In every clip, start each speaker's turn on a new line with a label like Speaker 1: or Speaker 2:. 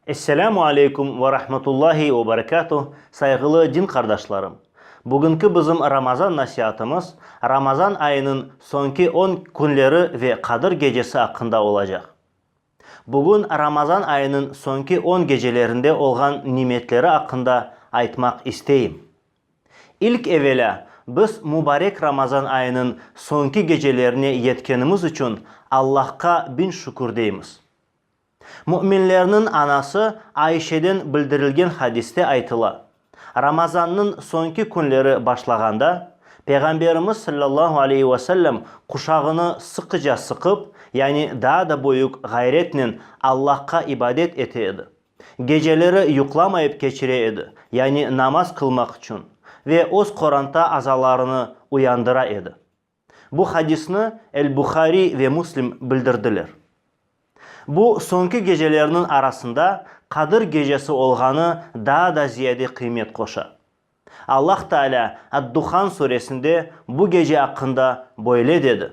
Speaker 1: Esselamu aleykum ve rahmetullahi ve berekatuh, sayğılı din qardaşlarım! Bugünki bizim Ramazan nasiatımız Ramazan ayınıñ soñki on künleri ve Qadir gecesi aqqında olacaq. Bugün Ramazan ayınıñ soñki on gecelerinde olğan nimetleri aqqında aytmaq isteyim. İlk evelâ, biz mubarek Ramazan ayınıñ soñki gecelerine yetkenimiz içün Allahqa biñ şükür deymiz. Müminlerniñ anası Ayşeden bildirilgen hadiste aytıla, Ramazannıñ soñki künleri başlağanda, Peyğamberimiz sallallahu aleyhi ve sellem quşağını sıqıca sıqıp, yani daa da büyük ğayretnen Allahqa ibadet ete edi. Geceleri yuqlamayıp keçire edi, yani namaz qılmaq içün, ve öz qoranta azalarını uyandıra edi. Bu hadisni El-Buhariy ve Muslim bildirdiler. Bu soñki gecelerniñ arasında Qadir gecesi olğanı daa da ziyade qıymet qoşa. Allah Taalâ Ad-Duhan suresinde bu gece aqqında böyle dedi.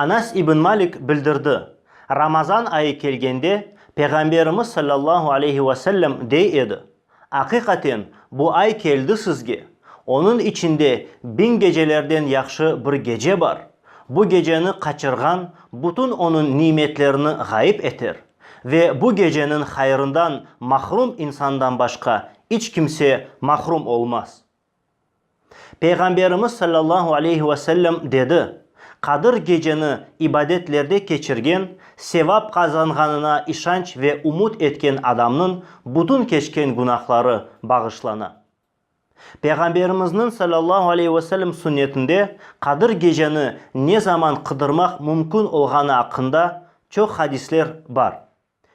Speaker 1: Anas ibn Malik bildirdi, Ramazan ayı kelgende, Peyğamberimiz sallallahu aleyhi ve sellem dey edi, Aqiqaten, bu ay keldi sizge, onıñ içinde biñ gecelerden yahşı bir gece bar, bu geceni qaçırğan bütün onıñ nimetlerini ğayıp eter, ve bu geceniñ hayrından mahrum insandan başqa iç kimse mahrum olmaz. Peyğamberimiz sallallahu aleyhi ve sellem dedi, Qadir geceni ibadetlerde keçirgen, sevap qazanğanına işanç ve umut etken adamnıñ bütün keçken günahları bağışlana. Peyğamberimizniñ sallallahu aleyhi ve sellem sünnetinde Qadir geceni ne zaman qıdırmaq mümkün olğanı aqqında çoq hadisler bar.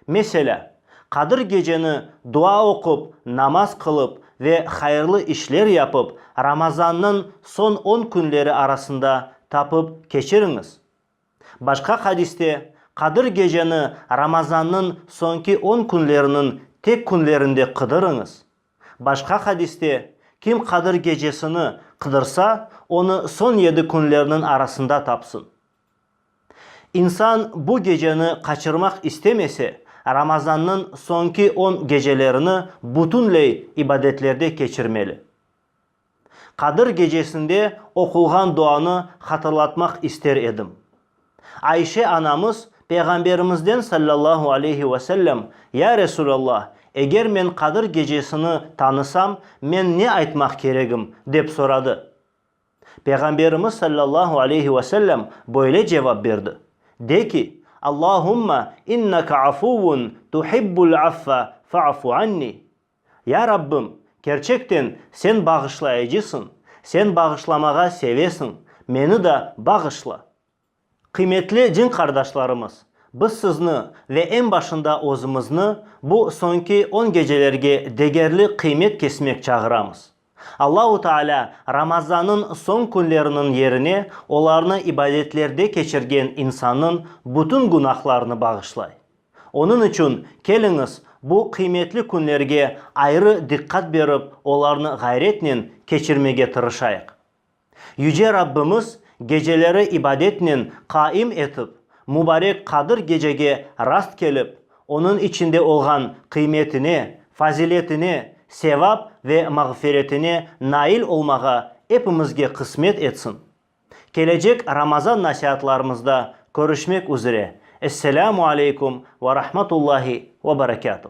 Speaker 1: Meselâ, Qadir Geceni dua oqup, namaz qılıp ve hayırlı işler yapıp, Ramazannıñ soñ on künleri arasında tapıp keçiriñiz. Başqa hadiste, Qadir Geceni Ramazannıñ soñki on künleriniñ tek künlerinde qıdırıñız. Başqa hadiste, Kim Qadir Gecesini qıdırsa, onı soñ yedi künlerniñ arasında tapsın. İnsan bu geceni qaçırmaq istemese, Ramazannıñ soñki on gecelerini bütünley ibadetlerde keçirmeli. Qadir gecesinde oqulğan duanı hatırlatmaq ister edim. Ayşe anamız Peyğamberimizden sallallahu aleyhi ve sellem, Ya Resulallah, eger men Qadir gecesini tanısam, men ne aytmaq keregim? dep soradı. Peyğamberimiz sallallahu aleyhi ve sellem böyle cevap berdi, De ki, Allahumma inneke afuvun tuhibbul affe fa'fu anni, Ya Rabbim, kerçekten Sen bağışlayıcısıñ, Sen bağışlamağa sevesiñ, meni de bağışla. Qıymetli din qardaşlarımız, biz sizni ve eñ başında özümizni bu soñki on gecelerge degerli qıymet kesmek çağıramız. Allahu Taalâ Ramazannıñ soñ künleriniñ yerine olarnı ibadetlerde keçirgen insannıñ bütün günahlarını bağışlay. Onıñ içün keliñiz bu qıymetli künlerge ayrı diqqat berip olarnı ğayretnen keçirmege tırışayıq. Yüce Rabbimiz geceleri ibadetnen qaim etip, mubarek Qadir gecege rast kelip, onıñ içinde olğan qıymetine, faziletine, sevap ve mağfiretine nail olmağa epimizge qısmet etsin. Kelecek Ramazan nasiatlarımızda körüşmek üzre. Esselamu aleykum ve rahmatullahi ve berekatuh.